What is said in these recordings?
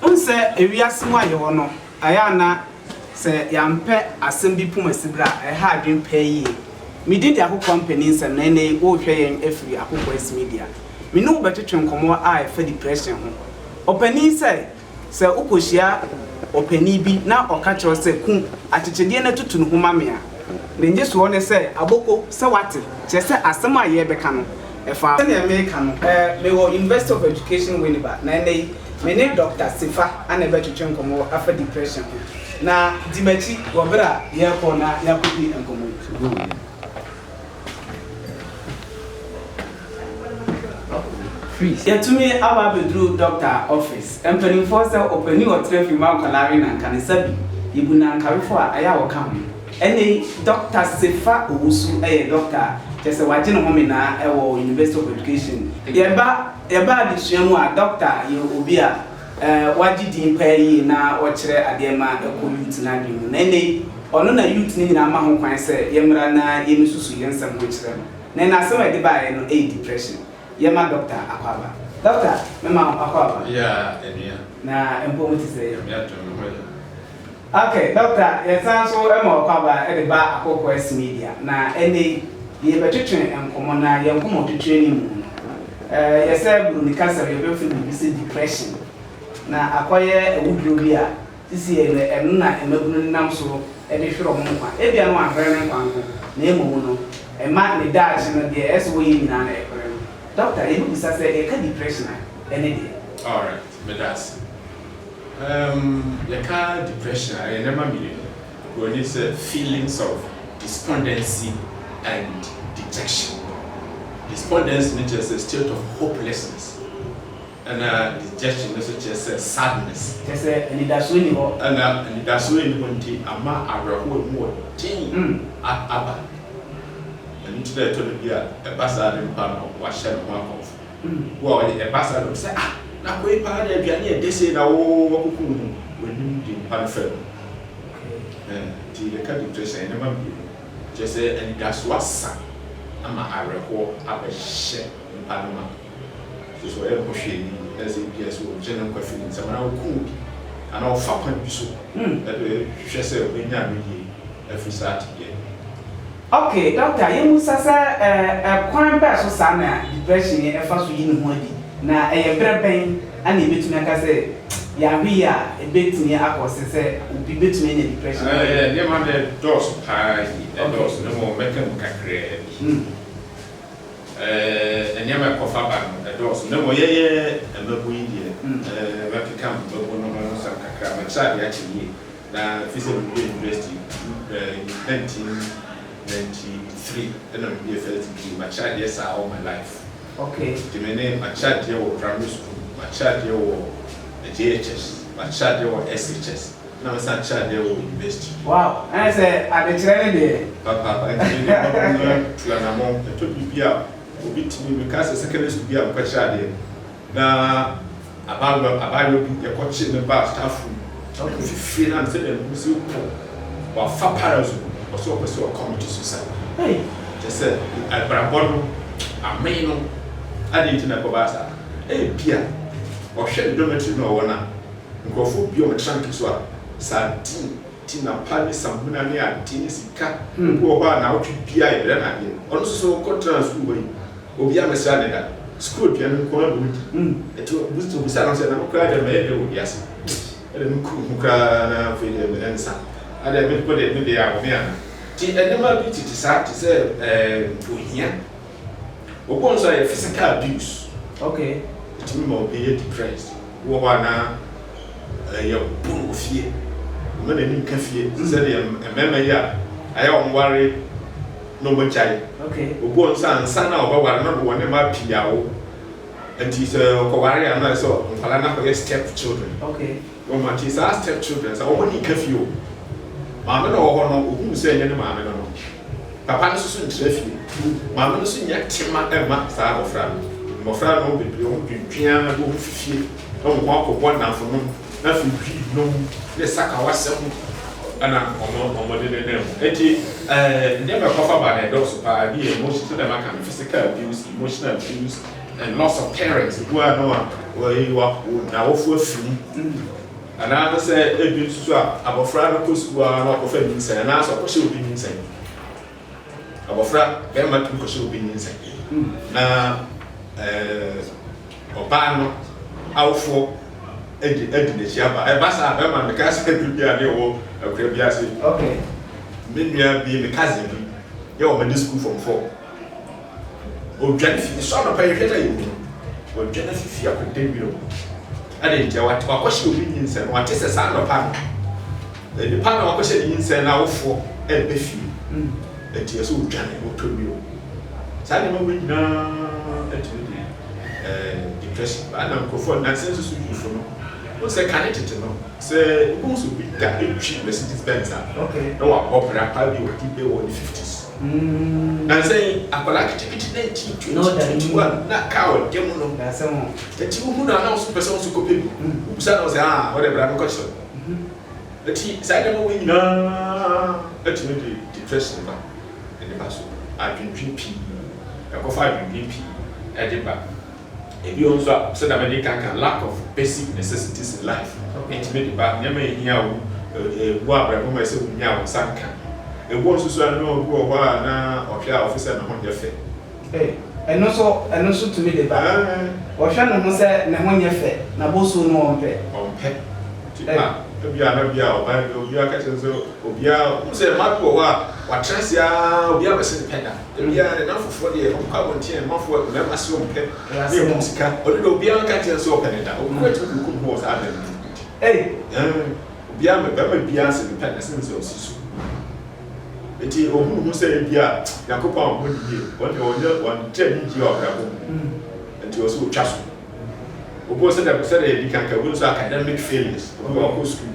Wohu sɛ wiase mu a yɛwɔ no, Ɛyɛ a na sɛ yɛampɛ asɛm bi pom asibire a, ɛha adwene paa yie. Medi de akokoaa mpanin nsɛm na ɛnnɛ yi worehwɛ yɛn afiri akokoaa Asimedia. Me ne wo bɛtwetwe nkɔmmɔ a ɛfa depression ho. Ɔpanin sɛ, Sɛ wokɔhyia ɔpanin bi na ɔka kyerɛ wo sɛ ku akyekyedeɛ na tutu ne ho ma me a, ne nnyesoɔ ne sɛ, Aboko, sɛ woate, kyerɛ sɛ asɛm a yɛrebɛka no, ɛfa. Sɛdeɛ mereka no, mewɔ University of Education Winneba na ɛnnɛ yi Me ne Dɔkta Sefa na ɛbɛtwetwe nkɔmmɔ afa depression ho, na di m'akyi wɔ bere a yɛrekɔ na yɛakodi nkɔmmɔ yi. Yɛatumi aba abeduru Dɔkta office. Mpanimfoɔ sɛ ɔpanin a ɔtena fi mma nkwadaa we nanka ne nsa bi. Yɛbu nankawefoɔ a ɛyɛ a wɔka ho. Ɛnnɛ yi, Dɔkta Sefa Owusu yɛ Dɔkta a kyerɛ sɛ wagye ne home naa wɔ University of Education. Yɛba Yɛba adesua mu a, dɔkta yɛ obi a wagye din paa yie na ɔkyerɛ adeɛ ma ɛkɔ youth no adwene mu. Na ɛnnɛ yi, ɔno na youth no nyinaa ma ho kwan sɛ yɛmmra na yɛmmɛsusu yɛn nsɛm ho nkyerɛ no. Na ɛnnɛ asɛm a ɛde baeɛ no yɛ depression. Yɛmma dɔkta akɔ aba. Dɔkta, mema wo akɔ aba. Yea, anua. Na mpɔmu te sɛ? Nyame adom, me ho yɛ. Ok, Dɔkta, yɛsan nso ma ɔkwabaa de baa Akokoɛs Media, na ɛnnɛ yi, yɛrebɛtwetwe nkɔmmɔ, na yɛn nkɔmmɔtwetwe no mu no, ɛyɛ sɛ Buroni kasa mu yɛbɛfrɛ biribi sɛ depression, na akɔyɛ awuduro bi a seesei no ɛno na mmabunu no nam so de hwere wɔn nkwa. Ebia no wanhwere ne nkwa nko, na mmom no, ɛma ne daakye no, deɛ ɛsɛ sɛ ɔyɛ nyinaa no, ɛpere no. Dɔkta, yɛbɛbisa sɛ, yɛka depression a, ɛne deɛn? Alright. Meda ase. Umm yɛka depression a ɛyɛ nneɛma mmienu. Oburoni sɛ feelings of despondency and dejection. Despondency no kyerɛ sɛ state of hopelessness ɛna dejection no nso kyerɛ sɛ sadness. Kyerɛ sɛ anidasoɔ nni hɔ. Ɛna anidasoɔ nni hɔ nti ama awerɛhoɔ a ɛmu wɔ den aba. Ɛno nti na ɛtɔ da bi a ɛba saa de mpo a na wahyɛ ne ho akɔmfo. Wo a ɔde ɛba saa na obi sɛ ah na koi paa na aduane yɛ dɛ sei na wo wakuku wo ho w'anim de nkwa no fam no eh nti yɛka bi kyerɛ sɛ nneɛma mmienu kyerɛ sɛ anidaso asa ama awerɛhoɔ abɛhyɛ nipa no ma kyerɛ sɛ ɔyɛ ne ho hwee ni na sɛ ebi a sɛ ɔgye ne nkwa firi ne nsam anaa ɔku obi anaa ɔfa kwan bi so ɛde hwɛ sɛ ɔbɛnya no yie afiri saa tebea bi mu. Ok Doctor yɛmmisa sɛ ɛɛ kwan bɛɛ so saa na depression yi ɛfa so yi ne ho adi? Na ɛyɛ berɛ bɛn ɛna yɛbɛtumi aka sɛ yare yi a ɛbɛtumi akɔ ɔse sɛ obi bɛtumi anya depression no ayɛ? Nneɛma no dɔɔso paa yi, ɛdɔɔso na mmom mɛka mu kakraa bi. Nneɛma a ɛkɔfa ba no ɛdɔɔso na mmom yɛyɛ mmabun yi deɛ mɛkeka mmabun no ho nsɛm kakra, metra deɛ akyɛ yie. Na ɛfiri sɛ mewie university two eh, in nineteen ninety three ɛna mewie first degree, makyɛ adeɛ saa all my life. Okay. Nti me ne, makyɛ adeɛ wɔ primary school, makyɛ adeɛ wɔ JHS, makyɛ adeɛ wɔ SHS, ɛna mesan akyɛ adeɛ wɔ university. Wow, ɛne sɛ adekyerɛ no deɛ. Papaapa, nti me ne wɔnom atu anamɔn. Ɛtɔ biribi a, obi tumi, meka sɛ secondary school bi a mekɔkyɛ adeɛ no, Na abaayewa abaayewa bi ɛkɔkye ne ba staff room na ɔkɔ fifie na ne sɛdeɛ ne ho si kɔ wafa parasol ɔsɛ ɔpɛ sɛ ɔkɔmete suicide hey kyɛ sɛ abrabɔ no amee no adɛn nti na ɛkɔbaa saa ebia ɔhwɛ ne dormitory no a ɔwɔ no a nkurɔfoɔ bi ɔmo trank so a sardine Ti na pa ne samina ne ade ne sika. Obi wɔ hɔ a naawɔtwe biara yɛbrɛ no adeɛ. Ɔno nso so kɔtraa sukuu hɔ yi, obiara ammɛsra no da. Sukuu aduane no nko ara na ɔdi. Ɛnti ɔbisaa no sɛ, na me koraa deɛ mɛyɛ dɛn wɔ wiase? Ɛdeɛ me kuru ho koraa na afei deɛ me nan sa. Adeɛ me ho deɛ me deɛ abome anaa? Nti nneɛma bi tete saa te sɛ ohia. Obuo nso ayɛ physical abuse. Okay. Ɛtumi ma obi yɛ depressed. Obi wɔ hɔ a na ɛyɛ obu no wɔ fie. Ɔma n'ani nka fie. Te sɛ deɛ mmarima yi a ayɛ wɔn ware na wɔagyae. Okay. Obuo nso ansa na ɔbɛware no de wɔn ne mmaa pii awo. Nti sɛ ɔkɔware a na ɛsɛ nkwadaa no akɔyɛ step children. Okay. Wɔma tie saa step children saa wɔn ani ka fie o maame no wɔ hɔ no ohunu sɛ ɛnyɛ ne maame no no papa no soso ntra fie maame no so nya tema ɛma saa abɔfra no mmɔfra no bebree wɔn dwendwen ara bi wɔn fi fie na wɔn akɔbɔ nnamfo nom na afei hwi nom ne sakawa sɛm ɛna wɔn wɔn de ne nan mu eti ɛɛ nneɛma ɛkɔfa ba na ɛdɔɔso paa ebi yɛ emotion sɛdeɛ maka no physical abuse emotional abuse And lots of parents bu ano a wɔayi wɔn n'awofo afi mu. Anaasɛ ebi nso so a, abɔfra no kɔ sukuu ara na ɔkɔfa nyinsɛn anaasɛ ɔkɔhyɛ obi nyinsɛn. Abɔfra barima tumi kɔhyɛ obi nyinsɛn na eh, ɔbaa no awofoɔ adi adi n'akyi aba. Ɛba saa a, bɛrima no meka sɛ ɛdu bi a ne ɛwɔ akura bi ase. Okay. Me nua bi, me cousin bi, yɛ wɔn adi sukuu fam fɔ. Ɔdwane fi, ɛsɔ anɔpa yɛ hwɛ na yɛ hu, ɔdwane fi fie akɔda wira mu. Adɛn ntia? Wate wakɔhyɛ obi nyinsɛn no, wate sɛ saa anɔpa no, nipa na wakɔhyɛ ne nyinsɛn no awofoɔ ɛbɛ fie. Ɛti ɛsɛ ɔdwane na ɔtɔ wira mu. Saa nneɛma wei nyinaa ɛtumi de eh, depression ba. Ɛna nkurɔfoɔ nansa nso so yufo no, wohu sɛ kane tete no, sɛ wobɛhu sɛ obi da ɛtwi Mercedes Benz a, na wabɔ bra paa bi a ɔdi bɛ wɔ ne 50s. Nansa yi akwadaa ketekete na nti twenty twenty one na car ɔda mu no nti wohu no a na ɔso pɛsɛ ɔso kɔpɛ bi wobusa na ɔsɛ aa ɔdɛ bra bɛkɔ kyerɛ no nti saa nneɛma wei nyinaa atumi de depression ba ɛde ba so adwendwen pii ɛkɔfa adwendwen pii ɛde ba. Ebi wɔ hɔ nso a, sɛnea mede kan ka no, lack of basic necessities in life tumi de ba. Nneɛma a ehia wo wɔ abrabɔ mu a ɛsɛ sɛ wunya a, wo nsa nka. Ebi wɔ hɔ nso so a, na obi wɔ hɔ a na ɔhwɛ a ɔfo sɛ ne ho nyɛ fɛ. Ei, ɛno nso, ɛno nso tumi de ba. Ɔhwɛ ne ho sɛ ne ho nyɛ fɛ, na bosuo no ɔmpɛ. Ɔmpɛ. Nti a, ebia na bi a ɔbaa bi, obiara ka kyerɛ no sɛ, obiara, wohu sɛ mmaa bi wɔ hɔ a, wɔatra ase ara, obiara bɛse ne pɛ da. Ebia ara na afoforɔ deɛ ɔpɛ a wɔnte yɛn mma foɔ, mmarima se wɔn pɛ na ɛhom sika, ɔno deɛ obiara nka nkyerɛ no sɛ ɔpɛ ne da, obi bɛtumi de no kɔ mu hɔ wɔ saa da no mu bi de, ei, ɛɛ, obiara mmɛ, barima biara se mepɛ na ɛsene sɛ ɔsi so. Enti ɔhunu ho sɛ ebia Nyankopɔn a ɔbɔ no yie, wɔn deɛ wɔnyɛ, wɔnte anigyeɛ wɔ abrabɔ mu, enti ɔsɛ ɔtwa so. Obi wɔ sɛdeɛ, sɛdeɛ yɛdi kan ka, obi wɔ sɛ academic failures, obi wɔ ɔkɔ sukuu,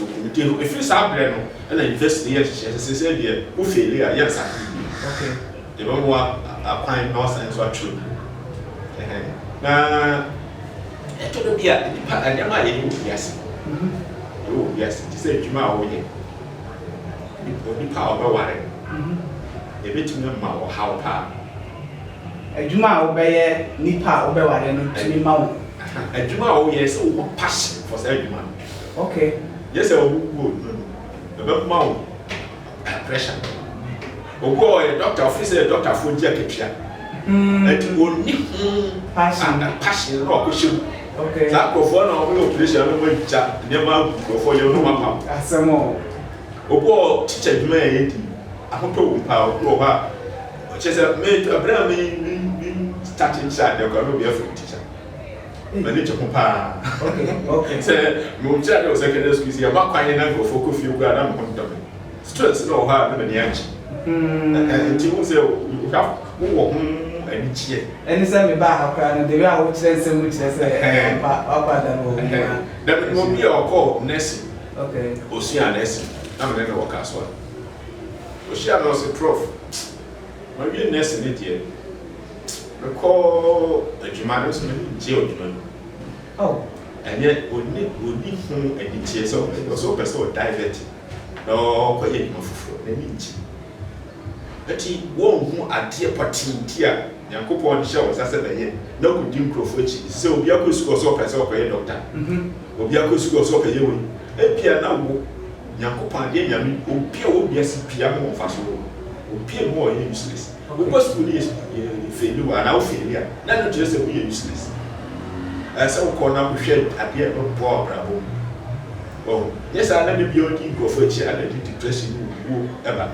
Okunute no, ɛfiri saa berɛ no na University no yɛ nhyehyɛɛ sɛ seesei deɛ wo feeli a, yɛ asake yie. Yɛbɛma wo akwan na woasane nso atwerɛ bio. Na ɛtɔ da bi a, nnipa, nneɛma a yɛyɛ wɔ wiase no, yɛyɛ wɔ wiase no, te sɛ adwuma a woyɛ, onipa a wobɛware no, ɛbɛtumi ama wo ɔhaw pa ara. Adwuma a wobɛyɛ, nipa a wobɛware no tumi ma wo. Adwuma a woyɛ, sɛ wowɔ passion for saa adwuma no. Okay. Nyɛ sɛ ɔmo wu o no no ɛbɛ ma wo pressure. Obi wɔ hɔ ɔyɛ doctor ɔfeel sɛ doctor foɔ gye akatua ɛti ɔnni ho passion na wakɔ hyɛ mu. Saa nkorɔfoɔ na ɔmo yɛ operation na ɔmo agya nneɛma agu nkorɔfoɔ yɛm na ɔmo apam. Asɛm o. Obi wɔ hɔ teacher adwuma yɛ yɛ di ahotɔ wɔ mu paa obi wɔ hɔ a kyerɛ sɛ me ɛbrɛ a me me me start kyerɛ adeɛ koraa na obi afrɛ me teacher. m'ani gye ho paa. Sɛ mewɔ tiri ade wɔ secondary school sɛ yɛbɔ akwan na nkurɔfoɔ kɔ fie koraa na me ho ntɔ me. Stress na wɔ hɔ a na m'ani agye. Ɛhɛn nti wohu sɛ wohwɛ wowɔ ho anigyeɛ. Ɛne sɛ mebaa ha koraa no the way a wokyerɛ nsɛm no kyerɛ sɛ ampa woakɔ ada no wɔ wo mu a. Na menim obi a ɔkɔɔ nursing. Okay. Ɔsuaa nursing na me ne no wɔ Kasoa. Ɔhyia me ɔse prof mawie nursing ne deɛ. Mekɔ adwuma no nso m'ani ngye wɔ adwuma no mu oh ɛnyɛ onni onni ho anigyeɛ sɛ ɔpɛ ɔsɛ ɔpɛ sɛ ɔdivert na ɔkɔ yɛ adwuma foforɔ n'ani ngye nti wɔnhu adeɛ pɔtee bi a Nyankopɔn de hyɛ wɔn nsa sɛ bɛyɛ na kɔdi nkurɔfoɔ akyi te sɛ obi akɔ sukuu ɔsɛ ɔpɛ sɛ ɔkɔ yɛ dɔkta obi akɔ sukuu ɔsɛ ɔpɛ yɛ wei ebia na wo Nyankopɔn adeɛ Nyame obi a wɔ wiase bia ma wɔn fa so obi a mu ɔyɛ useless. Wokɔ sukuu ne yɛ sukuu yɛ wo feeli wo anaa wo feeli a na ɛno nkyerɛ sɛ woyɛ useless ɛɛ sɛ wokɔ na wohwɛ adeɛ a ɛbɛboa w'abrabɔ mu wɔho nyɛ saa na da biara wodi nkurɔfoɔ akyi a na ɛde depression ne owuo ɛba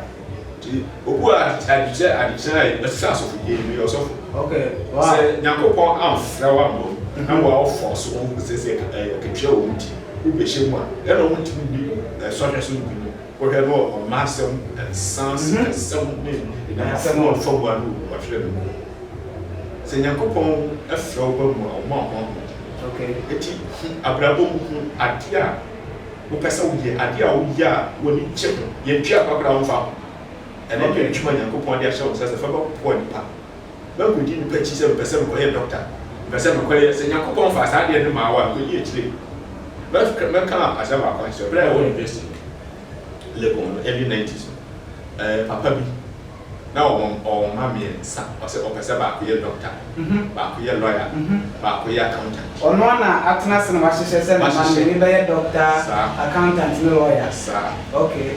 nti obu a adekyerɛ adekyerɛ a ɛsɛ asɔfodie yi meyɛ ɔsɔfo okay wow sɛ nyankopɔn amfrɛ wo amma mu na wo a wofɔ so wo sɛ sɛ ɛkɛtwerɛ wɔn ti wobɛhyɛ mu a ɛna wɔn ti mu bi ɛsɔhwɛ so nkunim Wohwɛ no wɔ ɔmma asɛm, nsa ase nsɛm ne nsɛm a ɔmfa bua no wɔ ɔtwerɛ no mu. Sɛ Nyankopɔn frɛ wo ba mu a, ɔma wo honhom. Enti hu abrabɔ mu, hu adeɛ a wopɛ sɛ woyɛ, adeɛ a woyɛ a w'ani gye ho. Yɛntua kwa koraa a, ɔmfa ho. Ɛno nyɛ adwuma a Nyankopɔn de ahyɛ wo nsa sɛ fa bɛboa nnipa. Makodi nnipa akyi sɛ mepɛ sɛ mekɔyɛ dɔkta, mepɛ sɛ mekɔyɛ, sɛ Nyankopɔn faa saa adeɛ no maa wo a, mekɔdi akyire. Mɛka, mɛka asɛm baako akyerɛ wo. Berɛ a yɛwɔ university no, Legon no, early nineties no, eh, papa bi, na ɔma, ɔma me nsa, ɔsɛ ɔpɛ sɛ baako yɛ dɔkta, baako yɛ lawyer, baako yɛ accountant. Ɔno na atena ase na wahyehyɛ sɛ ne mma no, Mahyehyɛ. mmienu bɛyɛ dɔkta, Saa. accountant ne lawyer? Saa. Okay.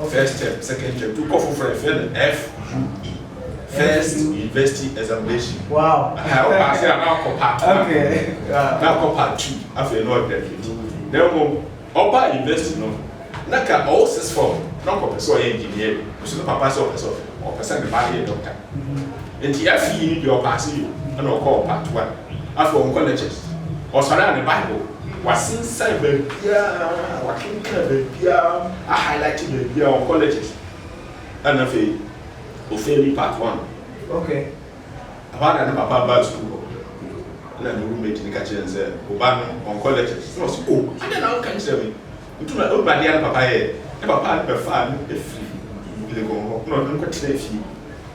Ɔ first term, second term, tu kɔ foforɔ yɛfrɛ no FUE, First University Examination. Wow! Aha, wo paase a na ɔkɔ part one. Okay. Wow. Na ɔkɔ part two, afei na ɔgraduate. Na mmom, ɔbaa university no, na ka ɔwɔ sixth form, na ɔkɔpɛ sɛ ɔyɛ engineering, nso ne papa sɛ ɔpɛ sɛ ɔpɛ sɛ ne ba no yɛ doctor. Nti FUE no deɛ ɔpaase yɛ o, ɛna ɔkɔɔ part one. Afei ɔnkɔ lectures, ɔsɔre a ne Bible wasensan baabiara, wakenkan baabiara, a highlight baabiara, ɔnkɔ lectures. Ɛna afei ofeeli part one. Okay. Ɛhɔ ara na ne papa baa sukuu hɔ. Ɛna ne roommate no ka kyerɛɛ no sɛ, Wo ba no, ɔnkɔ lectures. Ɛna ɔse, Oh, adɛn na wonka nkyerɛɛ me? Nti na wonim adeɛ a ne papa yɛɛ? Ne papa bɛfaa no firi Lincoln hɔ na ɔde no kɔtenaa fie.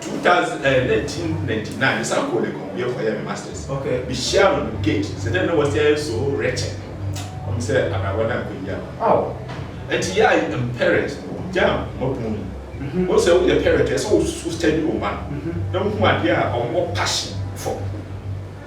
Two thousand ɛɛ nineteen ninety nine mesan kɔɔ Legon bio kɔyɛɛ me masters. Okay. Mehyiaa no no gate sɛ dɛn na wɔasi ayɛ so wretched wɔn sɛ abrabɔ no ankɔ yie ama me. Aw. Nti yɛ a yɛn parents no wogyaa nhoma bun yi. Wohu sɛ woyɛ parent a ɛsɛ sɛ wo so study wo mma no na wohu adeɛ a wɔwɔ passion for.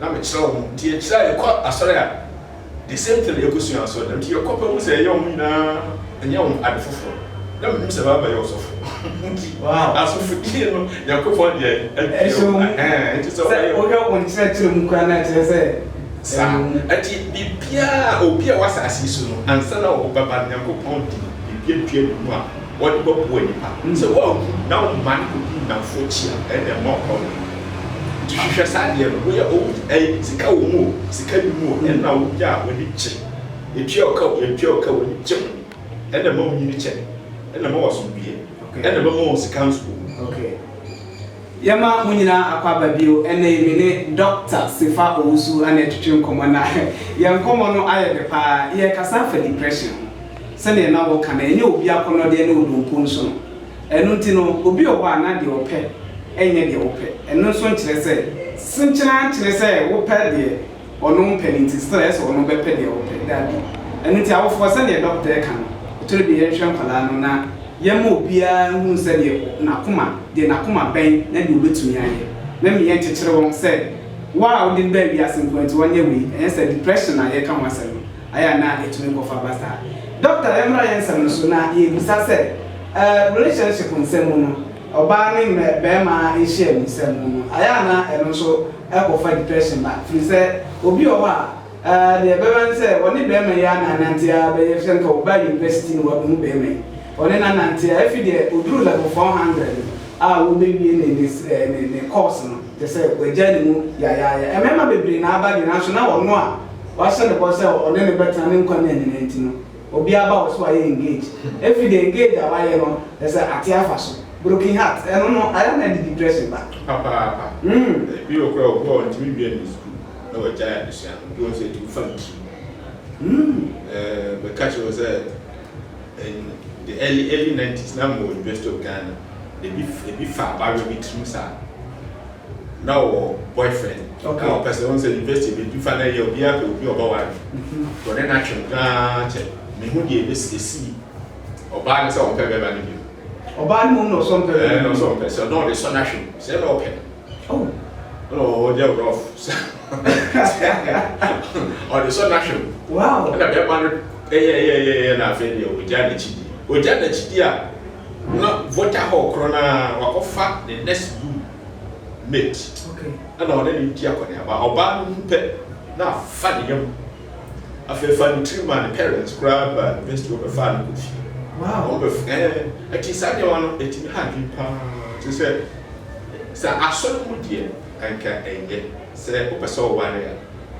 na me kyerɛ wɔn nti akyire a yɛ kɔ asɔre a the same thing na yɛ kɔ sua asɔre dɛm nti yɛ kɔ pɛ wɔn sɛ yɛ wɔn nyinaa nyɛ wɔn ade foforɔ na me nim sɛ baa bɛ yɛ ɔsɔfo nti asɔfo die no nyankopɔn deɛ ɛdi yɛ wɔn ɛhɛn nti sɛ wɔyɛ wɔn yɛ wɔn kyerɛ kyerɛ mu kura na kyerɛ sɛ saa ɛti biribiara obi a wɔ asase so no ansa na wɔbɛba nyankopɔn di biribiara dua ne mu a wɔde bɛboa nnipa. Sɛ woanku na woma no kɔdi nnamfo akyi a, ɛnna ɛmma ɔkɔ no. Nti hwehwɛ saa adeɛ no. Woyɛ owu, ɛyɛ sika wɔ mu o, sika nni mu o, ɛno na wonya a w'ani gye. Yɛtua wo ka o, yɛntua wo ka o, w'ani gye ho. Ɛnna ɛma wonyini kyɛ. Ɛnna ɛma w'asomdwoeɛ. Ɛnna ɛbɛma wɔn sika nso o. Ok. Yɛma mo nyinaa akwaaba bio. Ɛnnɛ yi me ne Dɔkta Sefa Owusu na ɛretwetwe nkɔmmɔ, na yɛn nkɔmmɔ no ayɛ dɛ pa ara. Yɛrekasa afa depression ho. Sɛdeɛ na wɔka no, ɛnyɛ obi akɔnnɔdeɛ ne odompo nso no. Ɛno nti no, obi wɔ hɔ a na deɛ ɔpɛ nyɛ deɛ wopɛ. Ɛno nso nkyerɛ sɛ senkyereɛ ankyerɛ sɛ wopɛ deɛ ɔno mpɛ no nti serɛ sɛ ɔno bɛpɛ deɛ wopɛ. Dabi. Ɛno nti awofoɔ, sɛdeɛ dɔkta reka no, ɛtɔre bia yɛnhwɛ nkwadaa no na yɛmma obiara nhunu sɛdeɛ n'akoma, deɛ n'akoma bɛn na deɛ ɔbɛtumi ayɛ. Na me yɛnkyekyere wɔn sɛ wo a wode no baa wiase nko ara nti ɔnyɛ wei. Ɛnyɛ saa, depression na yɛreka ho asɛm no. Ayɛ a na etumi nkɔ fa ba saa. Doctor yɛmmra yɛn nsɛm no so na yɛbisa sɛ ɛɛ relationship nsɛm mu no ɔbaa ne mmɛ bɛɛma nhyiam nsɛm mu no ayɛ a na ɛno nso ɛkɔ fa depression ba firi sɛ obi wɔ hɔ a ɛɛ deɛ ɛbɛba ne sɛ ɔne bɛɛma yi ana anante a bɛyɛ sɛ nka ɔba university na wabunu bɛɛma yi ɔne no anante a ɛfi deɛ ɔduru level 400 no a wɔbɛwie ne ne ɛɛ ne ne course no kyɛ sɛ wagya ne mu yayaaya ɛmɛɛma bebree na aba deɛ nanso na ɔno a wahyɛ no bɔ sɛ ɔne no bɛtena ne nkwa nna nyinaa nti no, obi aba wo so a yɛ engage. Ɛfiri the engage a wayɛ no, kyerɛ sɛ ate afa so. Broken heart, ɛno no ayɛ a na ɛde depression ba. Papaapa. Ebi wɔ koraa a, obu a ɔntumi nwia ne sukuu na wagyae adesua no, nti wahu sɛ ɛtumi fa ne tirim. Mɛka kyerɛ wo sɛ, in the early, early nineties, na mewɔ University of Ghana, ebi, ebi fa abaayewa bi tirim saa. na ɔwɔ boyfriend Okay. na ɔpɛ sɛ ɔhu sɛ university bi dwufa na ɛyɛ obiara pɛ obi a ɔbɛware no ɔne no atwem koraa kyɛ mehu deɛ ɛbɛsi ɛsii ɔbaa no sɛ ɔmpɛ bɛrima no bio Ɔbaa no hu na ɔsɔ mpɛ ɛɛ na ɔsɛ ɔmpɛ sɛ ɔna ɔde sɔ no ahwem sɛ na ɔpɛ Oh. no na ɔyɛ rough sɛ ɔde sɔ no ahwem Wow. ɛna bɛrima no ɛyɛɛyɛɛyɛ na afei deɛ ɔgyaa n'akyi di ɔgyaa n'akyi di a Na voter hɔ korɔ no ara wakɔfa ne next room mate ɛna ɔne no redi akɔneaba. Ɔbaa no hu pɛ na afa ne yam. Afei ɛfaa ne tiri maa ne parents koraa baa university hɔ bɛfaa no kɔɔ fie. Wɔn bɛf ɛɛ ɛti saa nneɛma no ɛtumi ha adwene pa ara. Te sɛ sɛ asɔre mu deɛ anka ɛnyɛ sɛ wopɛ sɛ ɔware a.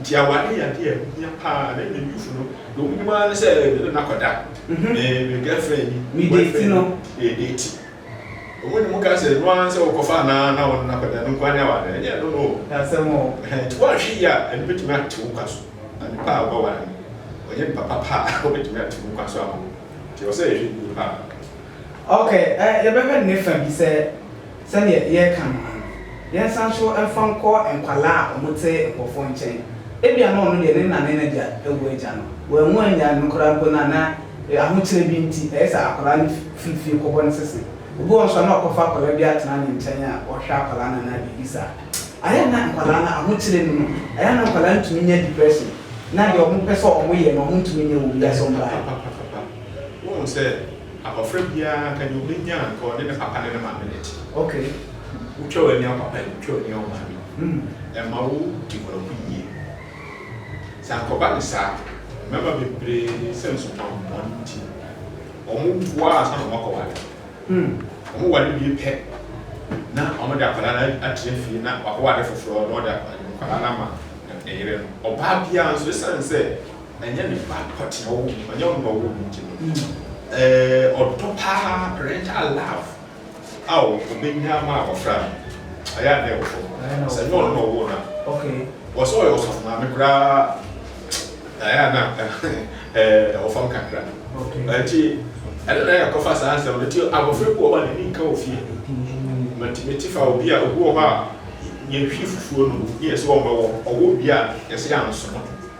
Nti aware yɛ adeɛ a ɛho hia paa na mmom youth no deɛ wɔn nim ara ne sɛ me ne no akɔda, me me girlfriend ni, me boyfriend ni, yɛ date. Wɔn nim ka sɛ ɛno ara ne sɛ wokɔfa anaa na wo ne no akɔda, ɛno nko ara ne aware, ɛnyɛ ɛno no o. Ɛhɛn, nti woanhwɛ yie a ɛno bɛtumi ate wo nkwa so. Na nipa a wobɛware no ɔnyɛ nipa papa a ɔbɛtumi ate wo nkwa so ama wo. Nti ɛwɔ sɛ yɛhwɛ yie paa. Okay, ɛ yɛbɛhwɛ ne fa bi sɛ Sɛdeɛ yɛreka no ara no, yɛnsan nso mfa nkɔ nkwadaa a wɔte nkurɔfoɔ nkyɛn. Ebia na ɔno deɛ ne na ne n'agya awu agya no, wanwu annyae no koraa mpo na na ahokyerɛ bi nti, ɛyɛ sɛ akwadaa no firi fie kɔbɔ ne sese. Obi wɔ hɔ nso a, na ɔkɔfa akwadaa bi atena ne nkyɛn a ɔhwɛ akwadaa no anaa biribi saa. Ayɛ a na nkwadaa no ahokyerɛ nni mu. Ayɛ a na nkwadaa no tumi nya depression, na deɛ wɔpɛ sɛ wɔyɛ no, wɔntumi nyɛ wɔ wiase ɔbaa yi. Papapapapapa. Woahu sɛ. Abɔfra biara anka deɛ ɔbɛnya anka ɔne ne papa ne ne maame na ɛte. Okay. Wotwa w'ani a papa yi, wotwa w'ani a wo maame yi. Mm. Ɛma wo di wɔn ho yie. Sɛ anka ɔba ne saa, mmarima bebree sɛn subammɔne nti, wɔn wo ara ansa na wɔn akɔware. Mm. Wɔn ware wie pɛ na wɔn de akwadaa no atena fie na wakɔware foforɔ na ɔde akwadaa no ama ne yere no. Ɔbaa biara nso, ɛsiane sɛ Ɛnyɛ ne ba pɔtee a ɔwɔ mu, ɛnyɛ ɔno na ɔwɔ mu nti no, ɔdɔ pa ara, parental love a ɔbɛnya ama abɔfra no, ɛyɛ a na ɛwɔ fam. Sɛ ɛnyɛ ɔno na ɔwoo no a, wɔ sɛ ɔyɛ ɔsɔfo maame koraa a, ɛyɛ a na ɛwɔ fam kakra. Nti ɛno na yɛkɔfa saa nsɛm no. Nti abɔfra bi wɔ hɔ a n'ani nka wɔ fie. Matumi te fa obi a, obi wɔ hɔ a, yɛhwie fufuo no, na yɛse ɔmmɛwɔ, ɔwɔ wie a, yɛse ansono.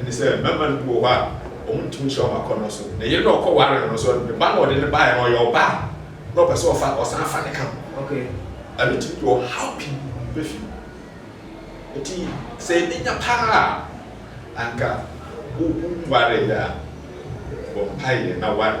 Ɛne sɛ, mmarima no bi wɔ hɔ a, wɔntumi nhyira wɔn akɔnnɔ so. Ne yere no a ɔkɔwaree no no nso, ne ba no a ɔde no baeɛ no, ɔyɛ ɔbaa na ɔpɛ sɛ ɔfa, ɔsan fa ne ka ho. Ɛno tumi de ɔhaw pii ba fie mu. Enti sɛ yɛbɛnya paa a, anka wonwareeɛ a, bɔ mpaeɛ na ware.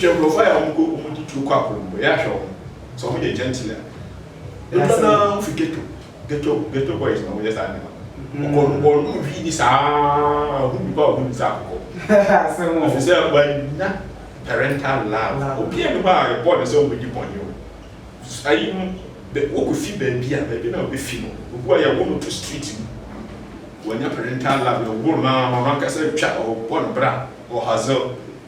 Wohwɛ nkurɔfo a wɔn kɔ wɔn di tuo kɔ akɔnom bɔ yɛ ahwɛ wɔn sɛ wɔn yɛ gentle a dodoɔ no ara wofi ghetto ghetto ghetto boys na wɔn yɛ saa nneɛma no wɔkɔ no wɔn no hwi ni saa ohun nipa ohun ni saa akokɔ efisɛ wɔanya parental love obi a ne hɔ a yɛbɔ ne sɛ wɔn di bɔnne o ayi no bɛ wɔkɔ fi baabi a baabi na wɔbɛ fi no obu a yɛwɔ no to street mu wɔnya parental love yɛwɔ no ama no ankasa twa ɔbɔ ne bra ɔhazel.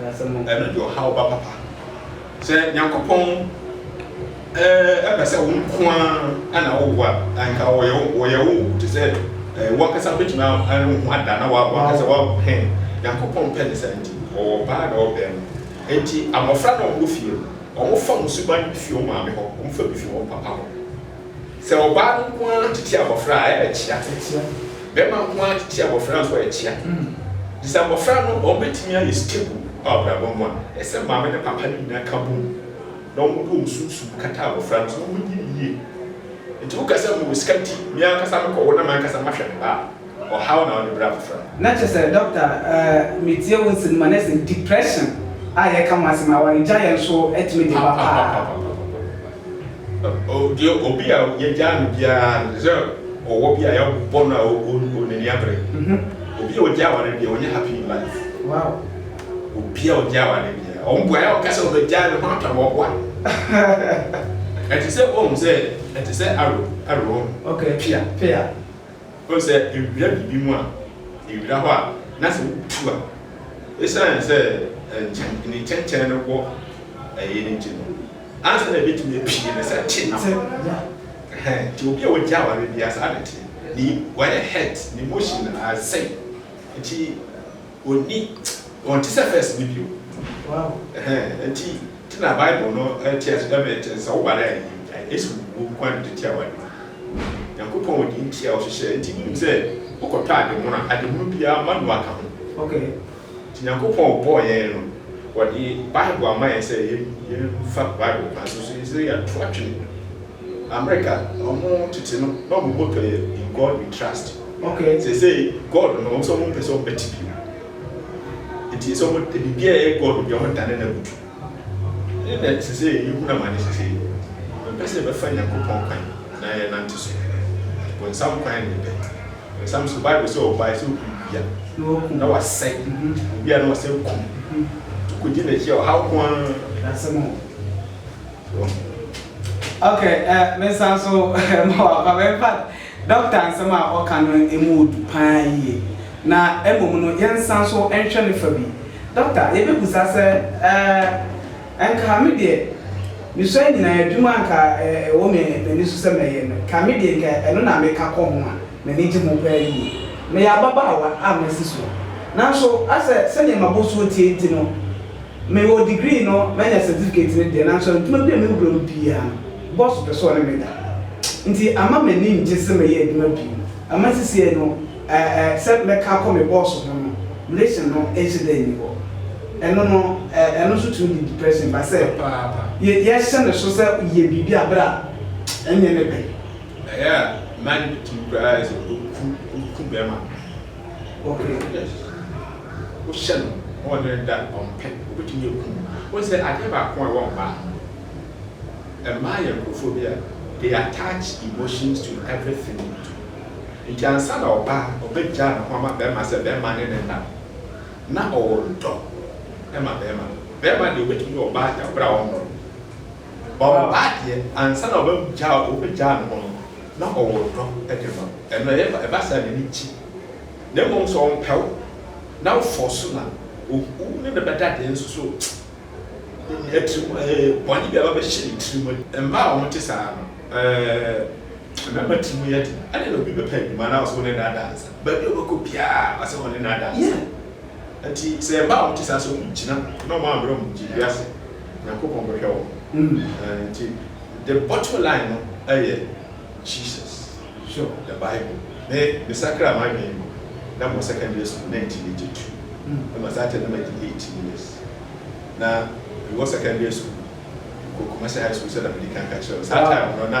Ɛno de ɔhaw ba papa. Sɛ Nyankopɔn pɛ sɛ wo nko ara na wowo a, anka ɔyɛ wo te sɛ wo ankasa wobɛtumi ayɛ wo ho ada na woawo ankasa woawo. Nyankopɔn pɛ ne saa nti, ɔwɔ ɔbaa na ɔwɔ barima. Enti, mmɔfra no a wɔwɔ fie no, wɔfa wɔn suban bi fi wɔn maame hɔ, wɔfa bi fi wɔn papa hɔ. Sɛ ɔbaa no nko ara tete abɔfra a, ɛkyea. Bɛrima nko ara tete abɔfra nso a, ɛkyea. Nti sɛ abɔfra no, wɔbɛtumi ayɛ stable wɔ abrabɔ mu a, ɛsɛ sɛ maame ne papa no nyinaa ka bom na wɔde wɔn sunsum kata abɔfra no so na wɔnyi no yie. Nti woka sɛ mewɔ sika nti, me ankasa mekɔwo na m'ankasa mahwɛ me ba a, Ɔhaw na ɔde brɛ abofra. Na kyerɛ sɛ doctor eh metie wo nsɛm no mu a na sɛ depression a yɛka ho asɛm awaregyaeɛ nso tumi de ba paa. Papapapapapapa deɛ obi a yɛagyaa no biara no te sɛ ɔwɔ bi a yɛabɔ no a ɔn n'ani abere obi a ɔgyaa aware biara ɔnyɛ happy in life Wow. obi a ɔgyaa aware biara ɔn boaeɛ a ɔka sɛ ɔbɛgyae no ho atɔ no ɔboa ɛte sɛ woahu sɛ ɛte sɛ arrow arrow Okay pea. pea. Wonim sɛ ewira biribi mu a, ewira hɔ a, na sɛ wotu a, esiane sɛ nkyɛn, ne nkyɛnkyɛn no wɔ ɛyi no nti no, ansa na ebetumi apue no, sɛ te na ho. Ɛhɛn, nti obi a wagye aware biara saa na ɛte. Ne wayɛ hurt, n'emotion asɛe. Nti. Onni, ɔnte sɛ first no bio. Wow. Ɛhɛn, ɛnti, nti na Bible no ɛte ase dɛ mɛ ɛte, sɛ wo ba no ayɛ yie a, Yesu wu nko ara na ɛde tua w'ade. Nyankopɔn wɔ deɛ nti a ɔhyehyɛɛ, nti wonim sɛ wo kɔ tɔ ade mono a, ade mono biara ma noa ka ho. Okay. Nti Nyankopɔn ɔbɔɔ yɛn no, ɔde Bible ama yɛn sɛ yɛn, yɛn fa Bible kwan so, so yɛn sɛ yɛto atwene. America ɔmo tete no na ɔmo bɔ twɛyɛ in God we trust seesei God no ɔmo sɛ ɔmo mpɛ sɛ ɔmo bɛte bio nti sɛ ɔmo biribi a ɛyɛ God bi ɔmo dane no abutu ɛne na seesei yɛ hunu amane seesei yɛ mpɛ sɛ yɛ bɛfa Nyankopɔn kwan na yɛ nante so bonsam kwan na yɛ pɛ bonsam so Bible sɛ ɔbae sɛ ɔkum bia na wasɛe obia na wasɛ kum to kɔgye n'akyi a ɔhaw koaa. Ok eh me nsa nso ma waba me mpa doctor nsɛm a ɔka no ɛmu ɔdu paa yie na mmom no yɛn nsa nso nhwɛ ne fa bi doctor yɛbɛ busa sɛ eh nka me deɛ me sua nyinaa adwuma nka ɛwɔ me m'ani so sɛ mɛyɛ no nka me deɛ nka ɛno na me ka kɔ ho a m'ani gye ho paa yie meyɛ ababaawa a masi soɔ nanso asɛ sɛdeɛ ma bosuo tie nti no. Me wɔ degree no manya certificate no deɛ nanso adwuma bi a me wura mu biaa no boss pɛ sɛ ɔne me da nti ama m'ani ngye sɛ mɛyɛ adwuma bio ama sisiɛ no eh eh sɛ mɛka akɔ me boss ho no relation no nhyɛ da nni hɔ ɛno no eh ɛno nso tumi de depression ba sɛ Papaapa. yɛ yɛhyɛ no so sɛ yɛ biribi a berɛ a ɛnyɛ ne pɛ. Ɛyɛ a mmaa no tumi koraa ayɛ sɛ ɔku ɔku bɛɛma no. Ɔpɛ wo dɛ wohyɛ no ɔwɔ dɛ dɛ ɔmpɛ obetumi eku wo. Wohu sɛ adeɛ baako a ɛwɔ mmaa ho no, mmaa yɛ nkurɔfoɔ bi a they attach emotions to everything they do. Nti ansa na ɔbaa ɔbɛgyaa ne ho ama barima sɛ barima ne no nna no, na ɔwɔ dɔ ma barima no. Barima deɛ obetumi ne ɔbaa da berɛ a ɔnnɔ no. Ɔreba deɛ ansa na ɔbɛgyaa wo ɔbɛgyaa ne ho no na ɔwɔ dɔ de ma wo ɛno ɛyɛ ba ɛba saa n'ani gye na mmom sɛ ɔmpɛ wo na wo fɔɔso na wo ne no bɛda deɛ nso so atirim ɛɛ bɔne bi aba bɛhyɛ ne tirim ma. Mmaa a wɔte saa no ɛɛ mmarima tirim yɛ den ɛdeɛ na obi bɛpɛ adwuma na ɔsɛ wo ne no ada ansa baabi a ɔbɛkɔ biara ɔsɛ wo ne no ada ansa nti sɛ mmaa a wɔte saa sɛ wɔgyina na wɔammrɛ wɔn gyedie ase. Nyankopɔn bɛhwɛ wɔn. Ɛɛ nti the bottom line no ɛyɛ Jesus, sure the bible. Me me sakra m'adwene mpo na mewɔ secondary school nineteen eighty two na ma saa time na madi eighteen years na mewɔ secondary school kɔ Kumasi high school sɛ na medi kan ka kyerɛ wo saa time no na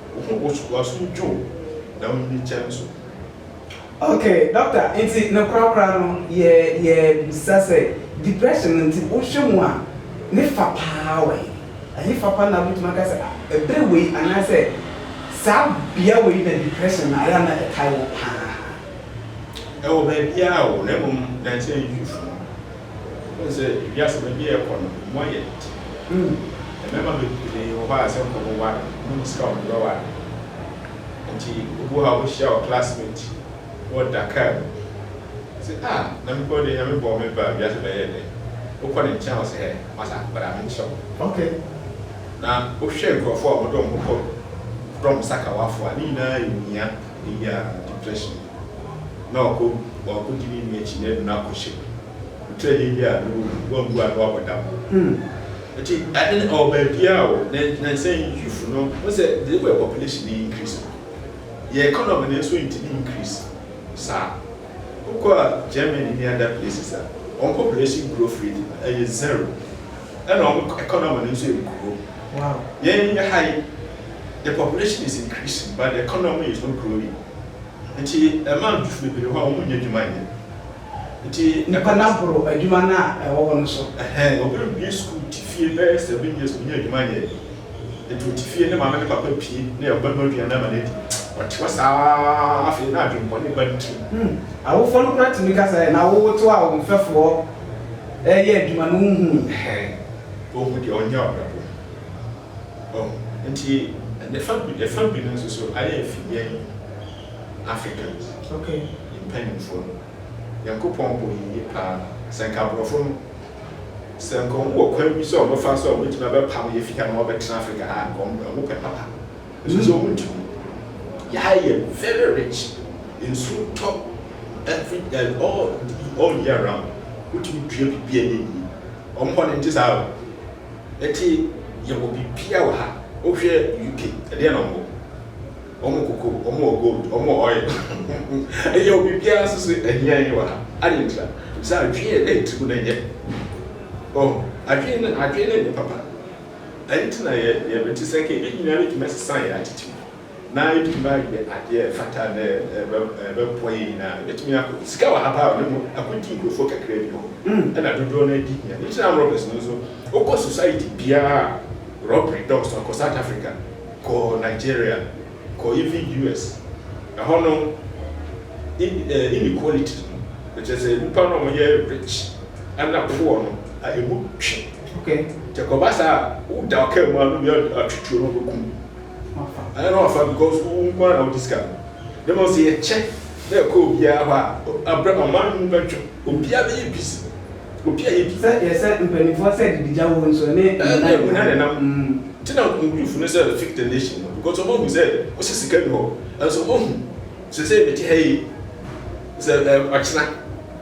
Wɔn wɔ sukuu asom dwo na wɔn ani kyɛn so. Ok doctor nti no kora kora no yɛ yɛ bisa sɛ depression no nti wo hwɛ mu a ne fa paa wɔ he? Ɛhe fa pa na wo bɛtumi aka sɛ ah bere wei anaa sɛ saa bea wei na depression no ayɛ a na ɛtae wo paa? Ɛwɔ baabiara o na mmom nansa yi fufuru. Wohu sɛ wiase baabi a yɛkɔ no, emu ayɛ dede. Mmarima bebree wɔ hɔ a, sɛ wɔbɛware no, wɔnim sika a wɔde bɛware. Enti obi wɔ hɔ a, wobɛhyia wo classmate na ɔda kaa mu. Ɔse, Ah, na mepɛ wo deɛ, Nyame bɔɔ me baa wiase bɛyɛɛ dɛ. Wokɔ ne nkyɛn a, ɔse, Hɛ, masa, bra menkyerɛ wo. Ok. Na wohwɛ nkurɔfoɔ a wɔde wɔn ho kɔ frɔm sakawafo a, ne nyinaa yɛ ohia, eyi a, depression. na ɔkɔ ɔakɔdi ne nua akyi na adu no akɔhyɛ otwa din bi a no wambu ano abɔ da ho. Ntsi ade no ɔwɔ baabiara o, nnansa yi youth no, wohu sɛ the way population no increase no, yɛ economy no so nntimi increase saa. Wokɔ Germany ne other places a, hɔn population growth rate no ɔyɛ zero na hɔn economy no so ennkurow. Hɛn ha yi, the population is increasing but the economy is not growing. Ntsi mmaa no tu fi beberee hɔ a wɔnnyɛ edwuma nnyɛ. Ntsi. Nyimpa no aboro edwuma no a ɛwɔ hɔ no so. Ɛhɛn, obi rebue skuul, tse fie bɛyɛ seven years, onnya edwuma nnyɛ. Ntsi otse fie, ne maame ne papa pie, na yɛ ɔbɛma eduan ama no edzi. Ɔtse hɔ saa ara, afei na adwen bɔne ba ne tsir mu. Awofo no koraa tumi ka sɛ, Ɛ na wowotow a wo mfɛfoɔ reyɛ adwuma no, wonhui? Ɛhɛn, wonhu deɛ ɔnyɛ ɔbrɛbo. Ɔho. Nti ne fa bi ne fa bi no nso so ayɛ afi yɛn Africans mpaninfoɔ no. Nyankopɔn bɔ yɛn yie paa. Sɛ nka aborɔfo no, sɛ nka ɔmo wɔ kwan bi sɛ ɔmo bɛfa so a ɔmo bɛtumi abɛpam yɛn afi ha na wabɛtena Africa ha a nka ɔmo ɔmo pɛ papa. Nso sɛ ɔmo ntumi. Yɛ ha yɛ very rich. Nsuo tɔ every eh all all year round. Wotumi dua biribi a ɛyɛ yie. Ɔmo hɔ no nte saa o. Eti yɛwɔ biribiara wɔ ha. Wohwɛ UK, ɛdeɛn na wɔwɔ? Wɔwɔ cocoa, wɔwɔ gold, wɔwɔ oil. Yɛwɔ biribiara nso so ahia yɛn wɔ ha. Adɛn ntira? Sɛ adwene a ɛte mu no nyɛ. Oh, adwene no, adwene no nyɛ papa. Ɛno nti na yɛte sɛ nka yɛbɛnyini ara bɛtumi asesa yɛn attitude. na yɛbɛtumi ayɛ adeɛ a ɛfata na ɛbɛboa yɛn nyinaa. Yɛbɛtumi akɔ sika wɔ ha paa o, na mmom akɔdi nkurɔfoɔ kakra bi hɔ, ɛna dodoɔ no ara di hia. Nhyira armed robbers no nso, wokɔ society biara a robbery dɔɔso no, kɔ South Africa, kɔ Nigeria, kɔ even US, ɛhɔ no inequality no, ɛkyerɛ sɛ nnipa no a wɔyɛ rich ɛna poor no, ɛmu twe. Nti ɛkɔba saa a, woda ɔkaa mu a, na obi atwetwe wo na wabɛkum wo. Mafa. Anyɛ na wafa because wo nko ara na wode sika no. Na mmom sɛ yɛkyɛ na ɛkɔ obiara hɔ a, abrɛ ma ɔman no mu bɛtwe. Obiara bɛyɛ busy. Obiara yɛ busy. Sɛ yɛsɛ mpanimfoɔ sɛ adidija wɔ hɔ nsuo ne muna nenam. Ɛɛ muna nenam. Nti na youth no sɛ fix the nation no because wɔn ahu sɛ wosɛ sika nni hɔ. Nanso wɔn ahu. Sɛsɛɛ mete ha yi. Sɛ ɛɛ ɔkyena.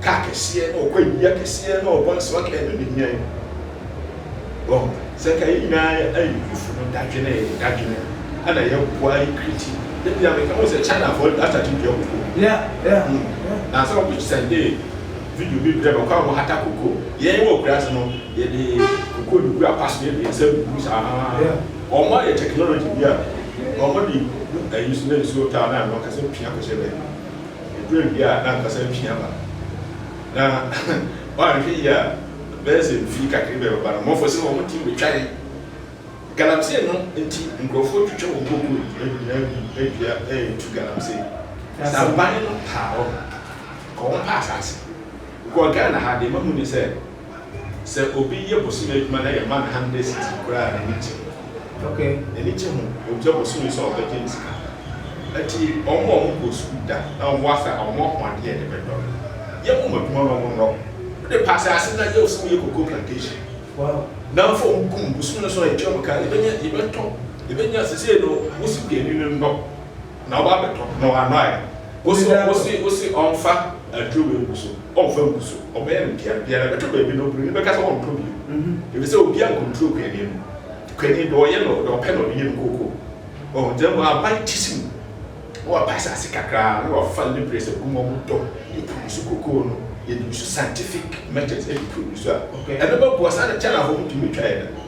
car kɛseɛ na ɔkɔ awia kɛseɛ na ɔbɔ nsra kaa no na nyan wɔ sɛ nka yɛ nyinaa ayi fufu no dadwene dadwene ana yɛ boa ayi kriti yɛ bia meka ho sɛ China fɔ ata ti dua koko yɛ yɛ ho na sɛ ɔbi sɛnde video bi brɛ mɛkɔ a wɔn hata koko yɛ yɛ wɔ kura se no yɛ de koko ne gu apas yɛ bia sɛ bubu saa wɔn ayɛ technology bi a wɔn de bu ayi so na nsuo taa na wɔn kasa pia kɔsɛ bɛ Eduruu bea a na ankasa mfe aba, na wɔanhwɛ yie a bɛyɛ sɛ mfe kakra bi a ɛbɛba no Amonfoɔ sɛ wɔn team betwa yɛn. Galamsey no nti nkurɔfoɔ retwitwa wɔn kokoo nyinaa gu adua retu galamsey. Sɛ aban no taa hɔ no, nka wɔn pɛ asase. Wokɔ Ghana ha deɛ mahu ne sɛ. Sɛ obi yɛ bosome adwuma na yɛma no hundred cedis koraa a, n'ani gye. N'ani gye ho. Ogya bosome so a ɔbɛgye ne sika. Ɛnti wɔn a wɔnkɔɔ sukuu da na wɔwɔ ase a, wɔn ahoɔden a ɛde bɛdɔ no, yɛ wɔn adwuma na wɔnnɔ. Wode pa asase na yɛ wo sɛ woyɛ cocoa plantation. Nnamfo a wɔkum bosome no so a yɛtua wɔn ka, yɛbɛnya, yɛbɛtɔ, yɛbɛnya. Seisei no, wo sika ani no nnɔ. Na ɔba abɛtɔ na w'anɔaɛ. Wo se wo se wo se ɔnfa aduro wei ngu so, ɔnfa ngu so, ɔbɛyɛ no deɛn biara ɛbɛtɔ baabi no oburoni bɛka sɛ ɔntɔ bio efisɛ obiara ncontrol kuani no. Kuani deɛ ɔyɛ no deɛ ɔpɛ na ɔde yɛ no kooko. Wahu nti na mmom aban ti si mu na wapa asase kakra na wafa libres agu mu a wɔdɔ de produce cocoa no, yɛde use scientific methods de produce a ɛno bɛboa saa na China foɔ wɔntumi ntwaeɛ da.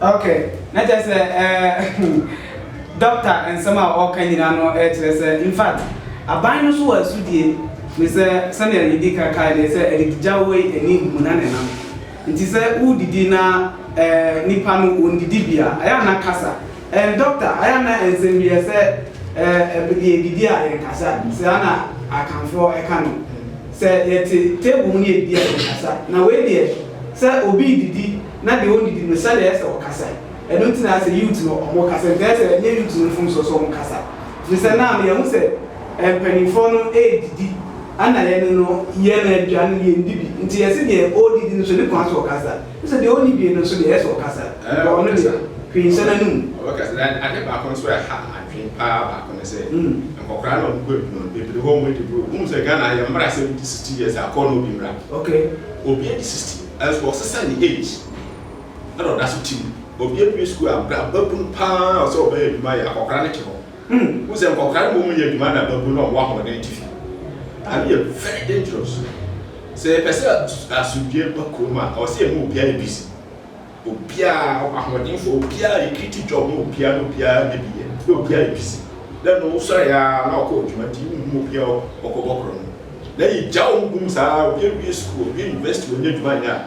ok na kyerɛ sɛ ɛɛ dɔkta nsɛm a ɔka nyinaa no ɛkyerɛ sɛ infact aban no so wɔ asudie ne sɛ sɛdeɛ medi ka kaa deɛ sɛ ɛdigya wei ani hu na ne nam nti sɛ wodidi na ɛɛ nipa no wɔndidi bia ɛyɛ ana kasa Ehm doctor ayɛ a na nsɛm bi ɛsɛ eh yɛ didi a yɛn kasa saa na akanfoɔ ɛka no sɛ yɛte table mu na yɛdidi a yɛn kasa na wei deɛ sɛ obi redidi na deɛ ɔndidi no sɛdeɛ ɛyɛ sɛ ɔkasa ɛno nti na sɛ youth no ɔmo kasa nti ɛyɛ sɛ ɛnyɛ youth no mfomsoɔ sɛ ɔmo kasa firi sɛ na ama yɛhu sɛ eh mpaninfoɔ no ɛredidi ɛna yɛn no yɛn aduane no yɛndi bi nti yɛse deɛ ɔredidi no so ne kwan so ɔkasa. Wo sɛ deɛ ɔnni bie no nso deɛ ɛyɛ sɛ ɔkasa but ɔno deɛ hwee nhyɛ n'anum. Ɔbɛkasa na ade baako nso a ɛha adwene paa baako ne sɛ nkɔkora na ɔmo bɛdu no bebree hɔ ɔmo adi bro wohu sɛ Ghana ha yɛn mmra sɛ wodi sixty years a kɔɔ na obi mmra obi adi sixty nanso ɔsesa ne age ɛna ɔda so te mu obi abue sukuu a bra babunu paa a ɔsɛ ɔbɛyɛ adwuma yɛ akɔkora no te hɔ. Hu hu sɛ nkɔkora no mmom nyɛ adwuma na mmabun na wɔwɔ ahoɔden te fie. Ano yɛ very dangerous. Sɛ yɛpɛ sɛ asomdwoeɛ ba kurom a, ɛwɔ sɛ yɛma obiara yɛ busy. Obiara, ahoɔdenfoɔ, obiara recruit job ma obiara na obiara nya bi yɛ na obiara yɛ busy. Dɛ no wosɔre ara na wokɔ adwuma nti wonhu obiara ɔkɔbɔ korɔ no. Na yɛgya wɔn gu mu saa ara, obi awie sukuu, owie university, ɔnnya adwuma nyɛ a.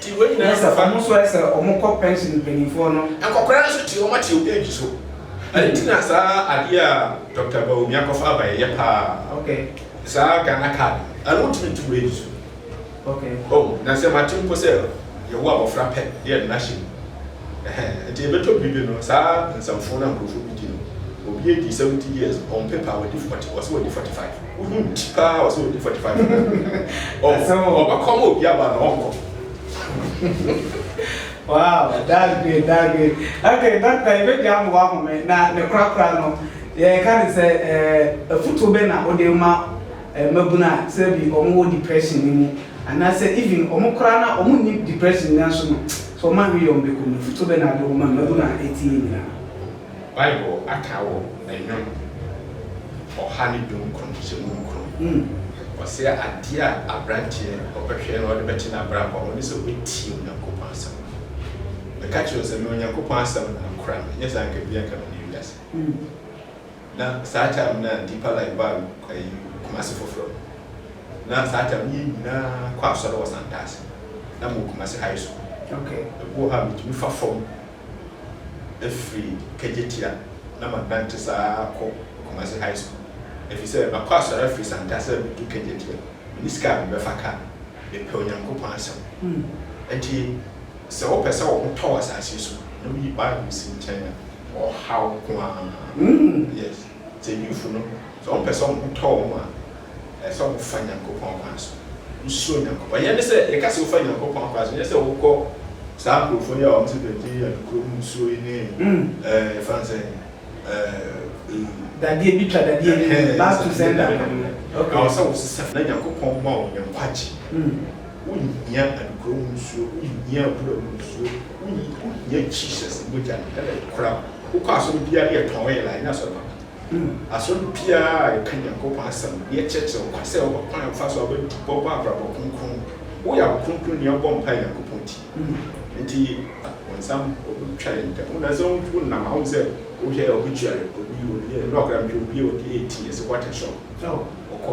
Ti wei nyinaa ɛsɛ wɔn nso ɛsɛ wɔn kɔ pension mpanyinfoɔ no. Nkɔkora nso ti wɔn ate wɔn age so. Ɛno nti na saa adeɛ a Doctor Bawumia kɔfa aba yɛ yɛ paa. Okay. Saa Ghana card ɛno wotumi tu w'age so. Okay. Oh na sɛ mate mpo sɛ yɛwo abɔfra pɛ na yɛde no ahyɛ mu ɛhɛn nti ɛbɛtɔ bere bi no saa nsɛmfoo no a nkurɔfoɔ bi di no obi adi seventy years on paper wadi forty ɔsɛ wadi forty five. Wohu bi paa a ɔsɛ ɔdi 45 minutes. Ɔba kɔma obi aba na ɔnkɔ. Wow, that's great, that's great. Okay, doctor, you make the ambo ambo me. Na ne kura kura no, yeah, can you say, eh, a foot obe na ode ma, eh, mabuna, say bi omo depression ni mu. And I say even omo kura na omo ni depression ni aso no, so omo anwi yom beko no foot obe na ade omo mabuna eti ni na. Bible aka wɔ Nnwom ɔha ne dunkron hyɛ mu nkron mu, ɔse adeɛ a aberanteɛ ɔbɛhwɛ na ɔde bɛte n'abrabɔ ho ne sɛ ɔbɛtie Onyankopɔn asɛm. Meka kyerɛ wo sɛ me Onyankopɔn asɛm na akora me, nyɛ saa anka ebia anka me ne wiase. Na saa time no a Deeper Life baa ɛyi Kumasi foforɔ no, na saa time no yɛn nyinaa kɔ asɔre wɔ Santase, na mewɔ Kumasi High School. Okay. Ebi wɔ hɔ a metumi fa fam. afiri Kagyetia na manante saa ara akɔ Kumasi High School ɛfiri sɛ makɔ asɔre afiri Santa sɛ medu Kagyetia menni sika a mebɛfa kaa. Mepɛ Onyankopɔn asɛm. Enti sɛ wopɛ sɛ wo ho tɔ wo asase so na woyi Bible si nkyɛn a, ɔhaw nko ara. Yes. Mpanyimfo no, sɛ wɔpɛ sɛ wɔtɔ wɔn ho a, ɛsɛ sɛ wɔfa Nyankopɔn akwan so. Wosuro Nyankopɔn. Ɛnyɛ ne sɛ, yɛka sɛ wofa Nyankopɔn akwan so, ɛnyɛ sɛ wokɔ saa nkurɔfoɔ yi a wɔte dade a nokorɛ mu nsuo yi ne ɛɛ yɛfrɛ no sɛn ɛɛ. Dadeɛ bi twa dadeɛ bi mu, last two sender no. Okay. Ɛwɔ sɛ wosesa na Nyankopɔn ma wo nkwagye. Wohia nokorɛ mu nsuo, wohia abura mu nsuo, wohia Jesus mogya no na ɛkora wo. Wokɔ asɔre biara ne yɛtɔn yɛn la, ɛnyɛ asɔre papa. Asɔre biara a yɛka Nyankopɔn asɛm, ne yɛkyerɛkyerɛ wo kwan sɛ wobɛ kwan a wofa so a wobɛtu bɔ bɔ abrabɔ kronkron mu. Woyɛ akronkron ni a wobɔ mpae Nyankopɔn ti. Enti wo nsa ho, wobɛtwa yɛn ntɛm. Wonam sɛ wonam a, wohu sɛ wohwɛ a wobɛtua yɛn. Obi, ɔde yɛ, nnora koraa mehwɛ obi a ɔde yɛ ti, ɛsɛ wate soro. Wokɔ,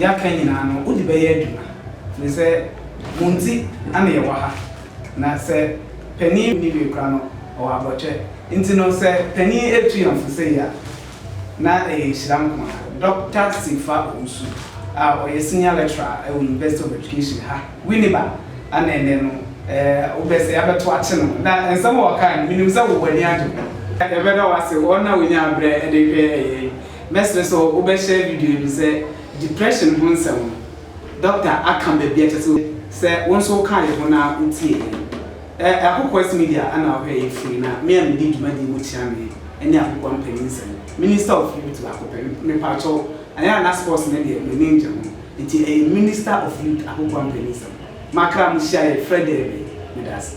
yɛaka nyinaa no wode bɛyɛ adwuma ne sɛ mo nti na yɛwɔ ha na sɛ panin nni hwee koraa no ɔwɔ abɔkyɛ nti no sɛ panin retu yɛn fo sei a na ɛyɛ nhyira nko ara Doctor Sifa Owusu a ɔyɛ Senior Lecturer wɔ University of Education ha Winneba ana ɛnɛ no wobɛ sɛ yɛabɛto akye no na nsɛm a ɔkae no menim sɛ wo w'ani agye ho. Yɛbɛda wo ase, wɔn a wɔnyaa berɛ de hwɛɛ yɛn Mɛsrɛ sɛ wo bɛ share video yi no sɛ depression ho nsɛm no dɔkta aka baabi a kyɛsɛ sɛ wo nso wo kaa yɛ ho na wo tie yɛ no. Ɛ ɛ Akokoas media na wo hwɛ yɛ firi na me a me di dwumadie mu kyea me ɛne Akokoa mpanin nsɛm. Minister of youth baako pɛ me paa kyɛw ayɛ a na sports no deɛ me ne ngye ho nti ɛyɛ minister of youth Akokoa mpanin nsɛm. Makra mo hyia yɛ frɛ dɛ bɛ me da ase.